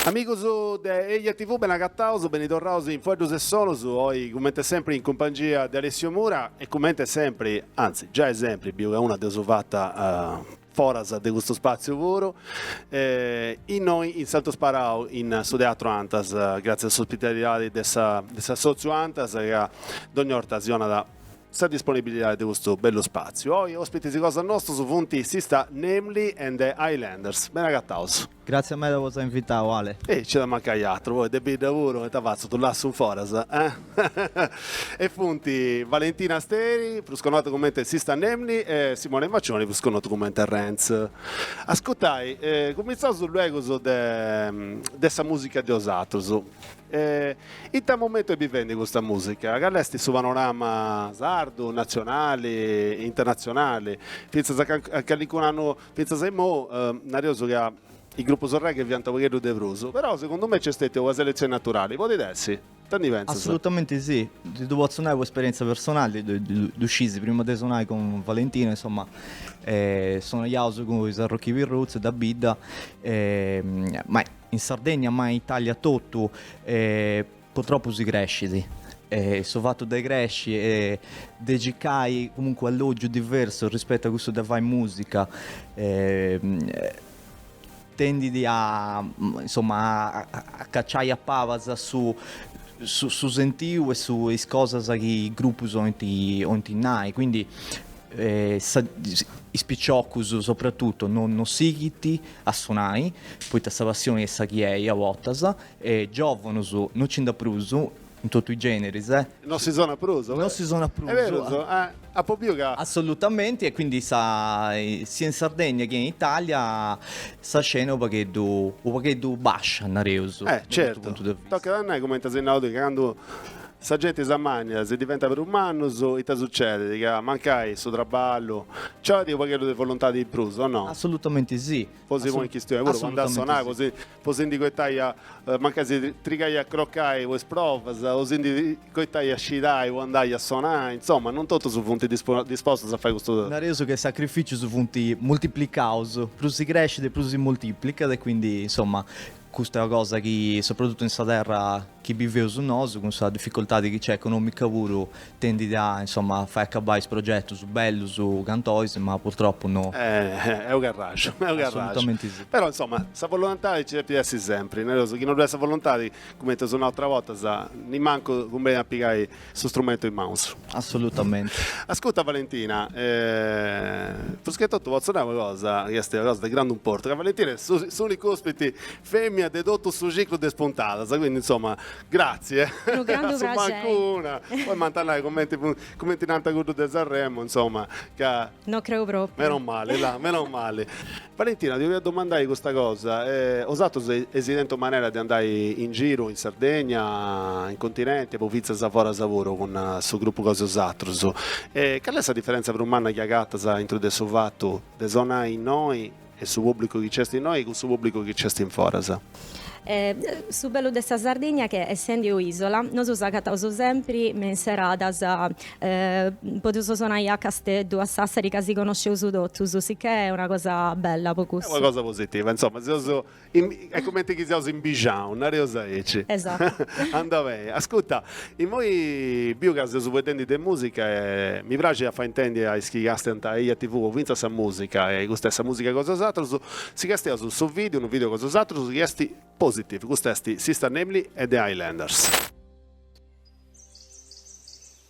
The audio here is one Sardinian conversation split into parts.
Amigus de Eja TV, ben'agataus, beni torraus in Fueddus e Sonus, oi cumente sempri in cumpangia de Alessio Mura e cumente sempri, anzi giai sempri, biu ca una dd'eus fata foras de custu spàtziu puru, innoi in Santu Sparau, in su Teatru Antas, gràtzias a s'ospitalidadi de s'assòtziu Antas ca dogni 'orta si 'onat sa disponibilidadi de custu bellu spàtziu. Oi òspitis cosa nostus funt Sista Namely and the Islanders. Ben'agataus. Gratzia meda po s'ai invitau Ale. E nci at a mancai atru, poi de bidda puru ita fatzu ddu lassu in foras eh? E funt Valentina Steri, prus connota cumenti Sista Namely e Simone Maccioni prus connotu cumenti Renz. Ascurtai, cumintzaus luegus de de sa musica de osatrus. In ita momentu est bivendi custa musica? Cali est su panorama sardu, nazionali, internazionali? Fintzas a calincunu annu Fintzas a immou nareus ca is grupus reggae fiant u' pagheddu de prus, però segundu mei nc'est stètiu una seletzioni naturali, podit essi? Ita ndi pentzas? Assolutamente sì, ti ddu potzu nai po esperientzia personali, ddu scis prima de sonai cun Valentina, insomma sonaiaus cun is Arrokibi Roots de bidda, ma in Sardegna ma in Italia totu Purtropu si crescit e su fatu de cresci e de circai comunque u' allogiu diversu rispettu a cussu de fai musica tendit a insomma a cacciai a pabas su su sentiu e su is cosas chi is gruppus ointi ointi nai quindi sa is picioccus soprattuttu no no sighint a sonai poita sa passioni est sa chi est a bortas E giòvonus no ci nd'at prus, in totu is gèneris, e. No si sonat prus. No si sonat prus. Est berus, apu biu ca. Assolutamenti, e quindi sa, sia in Sardegna che in Italia, sa scena est u' pagheddu, u' pagheddu bascia, nareus. Eh, certu. Tocat a nai, cumenti as nau tui, ca candu sa genti s'ammanniat, si diventat prus mannus, ita sucedit, ca mancai su traballu, nci 'olit u' pagheddu de voluntadi in prus, o no? Assolutamenti sì. Po si ponni in chistioni puru, po andai a sonai, po si Po si ndi coitai a, mancai si trigai a crocai po is provas, o si ndi coitai a scirai po andai a sonai, insoma, non totus funt dispostus a fai custu. Nareus ca is sacrificius funt multiplicaus, prus si crescit e prus si multiplicat e quindi, insoma, custa est una cosa chi, soprattuttu in sa terra chi biveus nosu, cun sa difficoltadi chi nc'est economica puru, tendit a, insomma, fai acabai is progetus bellus tantis, ma purtropu no. E ddu creu, e ddu creu. Però, insomma, sa volontadi nci depit essi sempri, nareus, chi no ddu est sa volontadi, cumenti eus nau ateras bortas, nimancu cumbenit a pigai su strumentu in manus. Assolutamenti. Ascurta Valentina, prus che totu potzu nai una cosa chi est una cosa de grandu importu, ca Valentina est s'unica ospiti Femina de totu su ciclu de is puntadas, quindi insomma grazie, a su mancu una, no m'ant a nai cumenti cumenti nant a cuddu de Sanremo insomma ca, no creu propriu, meno mali là, meno mali. Valentina ti 'olia domandai custa cosa, osatrus eis tentu manera de andai in giru in Sardegna, in continenti e po finzas foras puru cun su gruppu cosa osatrus, e cali est sa diferenza prus manna chi agatas a intro de su fatu de sonai innoi E su pubblicu chi c'est innoi cun su pubblicu chi c'est in foras. Eh su bellu de sa Sardigna est ca essendi un'isola nosu s'agataus sempri me in seradas podeus sonai a Casteddu, a Sassari ca si conosceus totus, sicchè è una cosa bella po cussu. È una cosa positiva, insomma si seus Est cumenti chi seus in bixinau, nareus aici. Esatu. Andau beni. Ascuta, immoi biu ca seus faeddendi de musica e mi praxit a fai intendi a is chi castiant a Eia TV fintzas sa musica, e custa est sa musica cosa osatrus, si castiaus su video, unu video cosa osatrus, chi est Positive, custa est Sista Namely e The Islanders.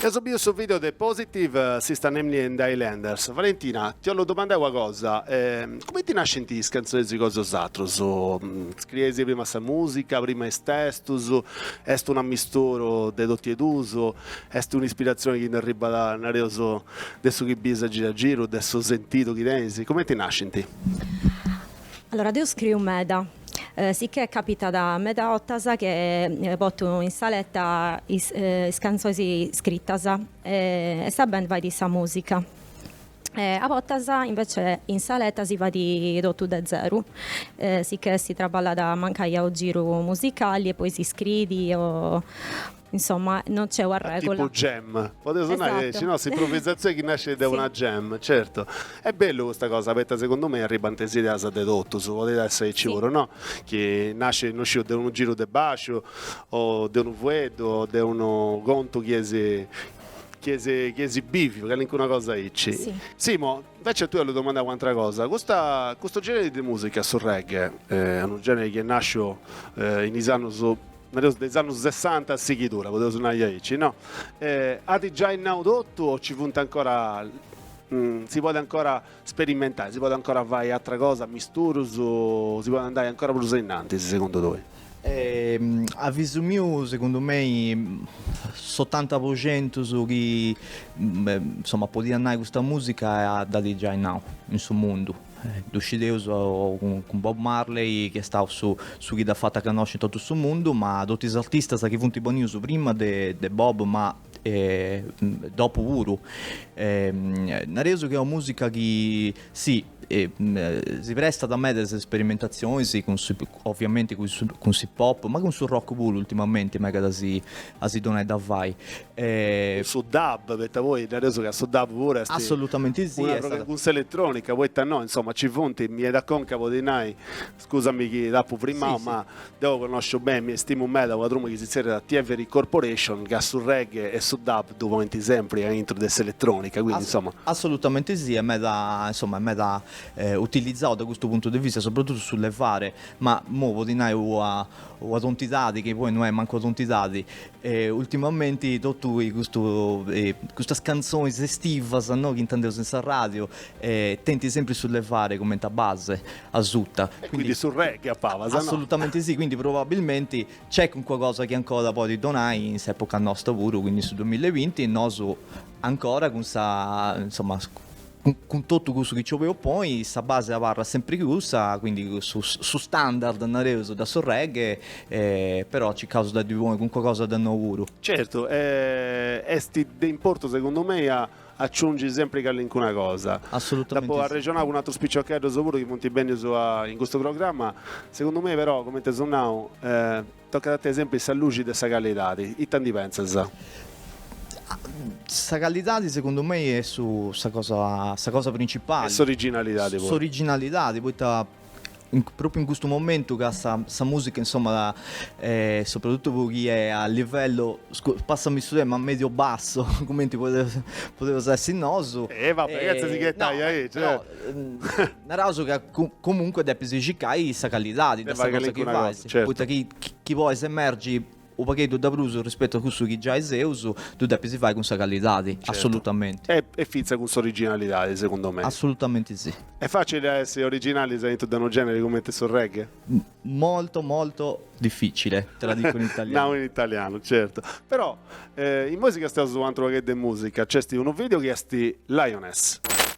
Eus biu su video de Positive Sista Namely and The Islanders. Valentina, ti 'ollu domandai una cosa, cumenti nascint is canzonis cosa osatrus? Scrieis prima sa musica, prima is testus, est un'ammisturu de totu e duus, est un'ispirazioni chi nd'arribbat nareus de su chi biis a giru a giru, de su sentidu chi tenis, cumenti nascint? Allora deu scriu meda, sicchè capitat meda 'ottas chi pottu in saletta is cantzois iscrittas e sa band faidi sa musica e a bottas invece in saletta si faidi tottu de zeru, sicchè si traballada mancai a unu giru musicali e poi si scriidi o Insomma, non c'è una regola. Tipo jam, podeus nai, esatto. Sì, unu, s'improvvisatzioni chi nascit de una jam, certu. Est bellu custa cosa, poita segundu mei arribant is ideas de totus, podit essi aici puru, no? Chi nascit, no sciu, de unu giru de basciu, o de unu fueddu, o de unu contu chi eis, chi eis, chi eis biviu, calincuna cosa aici. Si. Simo, invece a tui 'ollu domandai un'atra cosa, custa, custu generi de musica, su reggae, unu generi chi est nasciu in is annus nareus de is annus sessanta a sighiri, podeus nai aici, no? At giai nau totu o ci funt ancora, si podit ancora sperimentai, si podit ancora fai atra cosa, misturus, si podit andai ancora prus ainnantis segundu tui? Avisu miu segundu mei s'otanta po centu de su chi insoma podia nai custa musica at giai nau in su mundu, Ddu scideus cun Bob Marley chi est stau su chi dd'at fata connosci in totu su mundu, ma totu is artistas chi funt benius prima de Bob ma dopu puru. Nareus chi est una musica chi si si prestat meda a is sperimentatzionis cun Oviamenti cun s'hip-hop, ma cun su rock puru ultimamenti megat a si donai da fai e. Cun su dub, poita poi nareus ca su dub puru est. Assolutamenti si. Un'arrogu cun s'eletronica, poita no, insoma, nci funt, mi benit a conca po ddi nai, scusami chi t'apu frimau, ma deu connosciu beni e stimu meda una truma chi si tzerriat Thievery Corporation, ca su reggae e su dub ddu ponint sempri aintru de s'eletronica, quindi insoma. Assolutamenti si, est meda, insoma, est meda utilizau de custu puntu de vista sopratutu su levare, ma imoi potzu nai una una tontidadi chi poi no est mancu una tontidadi, ultimamenti totu custu custas cantzonis estivas no chi intendeus in s'arradiu tenint sempri su levare cumenti a base asuta. E quindi su reggae po basi no? Assolutamenti si, quindi probabilmenti nc'est calincuna cosa chi ancora podit donai in s'epoca nosta puru, quindi in su duamilla e binti nosu ancora cun sa insoma cun totu cussu chi nci 'oleu ponni, sa base abarrat sempri cussa, quindi su su standard nareus de su reggae, però circaus de ddi ponni cunca cosa de nou puru. Certu, e est de importu segundu mei a aciungi sempri callincuna cosa. Assolutamente Dd'apu arrexonau cun atrus piciocheddus puru chi funt bennius in custu programma, segundu mei però, cumenti eus nau, Tocat a tenni sempri sa luxi de sa callidadi, ita ndi pentzas? Sa callidadi segundu mei est su sa cosa sa cosa principali. E s'originalidadi puru. S'originalidadi poita propriu in custu momentu ca sa sa musica insomma soprattutto po chi è a livello passami su termine ma medio basso cumenti podeus essi nosu. E va bè chetza si chetaia aici. Naraus ca comunque depis circai sa callidadi de sa cosa chi fais, poita chi chi bolis emergi u pagheddu de prus rispetu a cussu chi giai seus, ddu depis fai cun sa callidadi, assolutamenti. E finza cun s'originalidadi, segundu mei. Assolutamenti si. Est facili a essi originalis aintru de unu generi cumenti su reggae? Molto molto difficile, te la dico in italiano. Nau in italiano, certu. Però, imoi nosi castiaus u antru pagheddu de musica, c'esti unu video chi esti Lioness.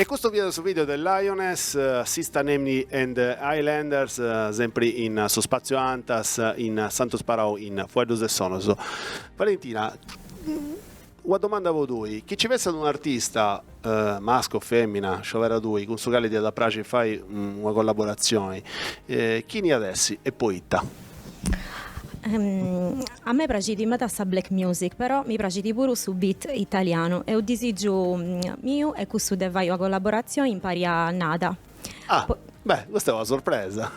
E custu fiat su video de Lioness, Sista Namely and the Islanders, sempri in su Spazio Antas in Santu Sparau in Fueddus e Sonos. Valentina, una domanda po tui, chi ci fessat un artista, mascu o femina, sciovera tui, cun su cali ti at a praxi fai una collaboratzioni, chini at essi e poita? A me praxit meda sa black music però mi praxit puru su beat italianu e u disigiu miu est cussu de fai una collaboratzioni impari a Nada. Ah! Beh, custa est una surpresa,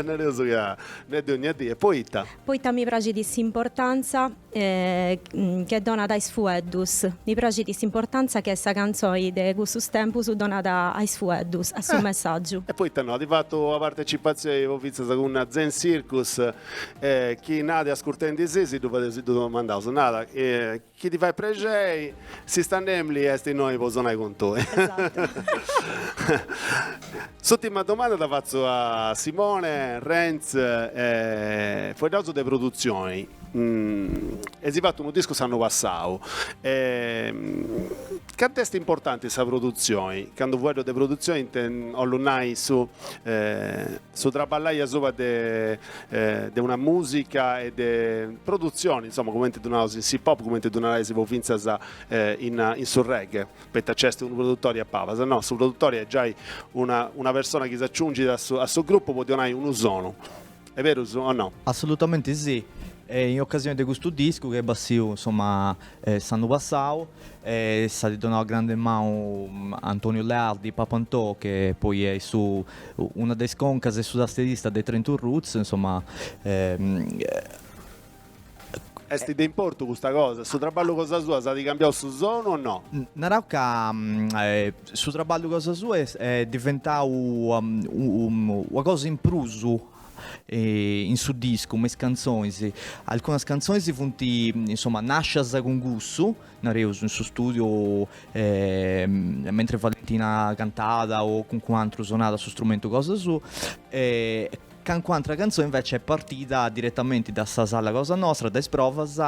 nareus ca non est de ogna die, poita? Poita mi praxit s'importantza chi donat a is fueddus. Mi praxit s'importantza chi sa cantzoi de cussus tempus donat a is fueddus, a su messàgiu. E poita no? At fatu una partetzipatzioi po fintzas cun Zen Circus e chi Nada est ascurtendi si si ddu fadeus si ddu domandaus, Nada, chi ti fait prexei. Sista Namely est innoi po sonai cun tui. Esattu. S'ùtima domanda dda fatzu a Simone Renz e faeddaus de produtzioni. Eis fatu unu discu s'annu passau e cantu est importanti sa produtzioni, candu faeddu de produtzioni ite 'ollu nai su Traballai asuba de de una musica e de produtzioni, insoma, cumenti ddu naus in s'hip-hop, cumenti ddu naraisi po fintzas in in su reggae, poita nci est unu produtori a pabas, no, su produtori est giai una una persona chi s'aciungit a su a su grupu po ddi 'onai unu sonu. Est berus o no? Assolutamenti sì, e in ocasioni de custu discu chi est bassiu, insoma, s'annu passau, E s'at donau una grande manu a Antoniu Leardi, Papa Ntò, che poi est su una de is concas e su tasterista de Train To Roots, insoma. Est de importu custa cosa? Su traballu cosa sua s'at cambiau su sonu o no? Narau ca su traballu cosa sua est diventau una cosa in prus in su discu me is cantzonis, alcunas cantzonis funt insoma nascias cun cussu, nareus in su studiu mentre Valentina cantàt o calincunu aturu sonàt su strumentu cosa suu e calincuna atera cantzoni invece est partida diretamenti da sa sala cosa nostra, da is provas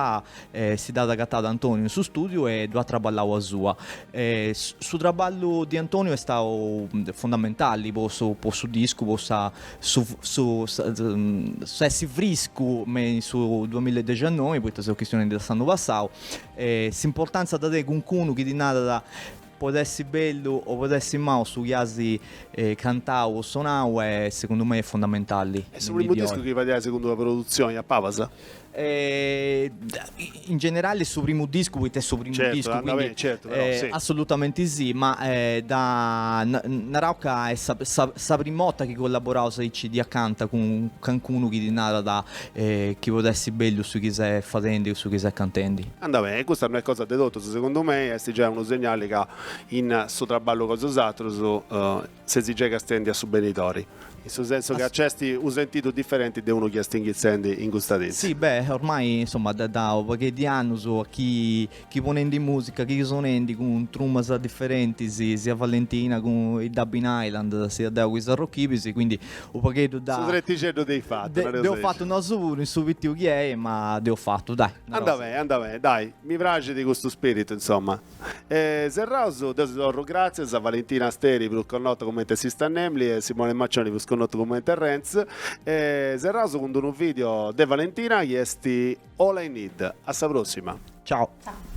e si dd'at agatau Antoniu in su studiu e ddu at traballau asua e su traballu de Antoniu est stau fundamentali po su discu po sa su su s'essi friscu me in su duamilla e dexannoe poita seus chistionendi de s'annu passau e s'importantza dda tenit cuncunu chi ti narat podet essi bellu o podet essi mau su chi asi cantau o sonau e segundu mei est fundamentali. E su primu discu chi fadias cun d'una produtzioni a pabas? in generale est su primu discu poita est su primu certo, discu quindi, bene, certo, però, eh, sì. assolutamente sì ma eh, da narau ca è sa, sa, sa prim'ota chi collaboraus aici di acanta cun calincunu chi ti narat eh, chi podit essi bellu su chi ses fadendi o su chi ses cantendi anda beni e custa non est cosa de totus segundu mei est giai unu segnali ca in su traballu cun is atrus eh, Ses giai castiendi a su benidori. In su sensu ca nc'esti u sentidu diferenti de unu chi esti inghizendi in custas dis. Si, beh, ormai, insomma, ddu at dau unu paghedd'e annus chi si ponendi musica, chi sonendi cun trumas diferentisi, sia Valentina cun i Dabin Island, sia deu cun is Arrochibisi, quindi u pagheddu dda. Su tretixeddu dd'hei fatu, nareus aici. Dd'heu fatu nosu puru, in su pitiu chi hei, ma dd'heu fatu, dai. Anda beni, anda beni, dai, mi praxidi custu spiritu, insomma. E serraus deu si torru gràtzias a Valentina Asteri prus connota cumenti Sista Namely e Simone Maccioni prus connotu cumenti Renz e serraus cun d'unu video de Valentina chi est All I Need. A sa pròssima. Ciao. Ciao.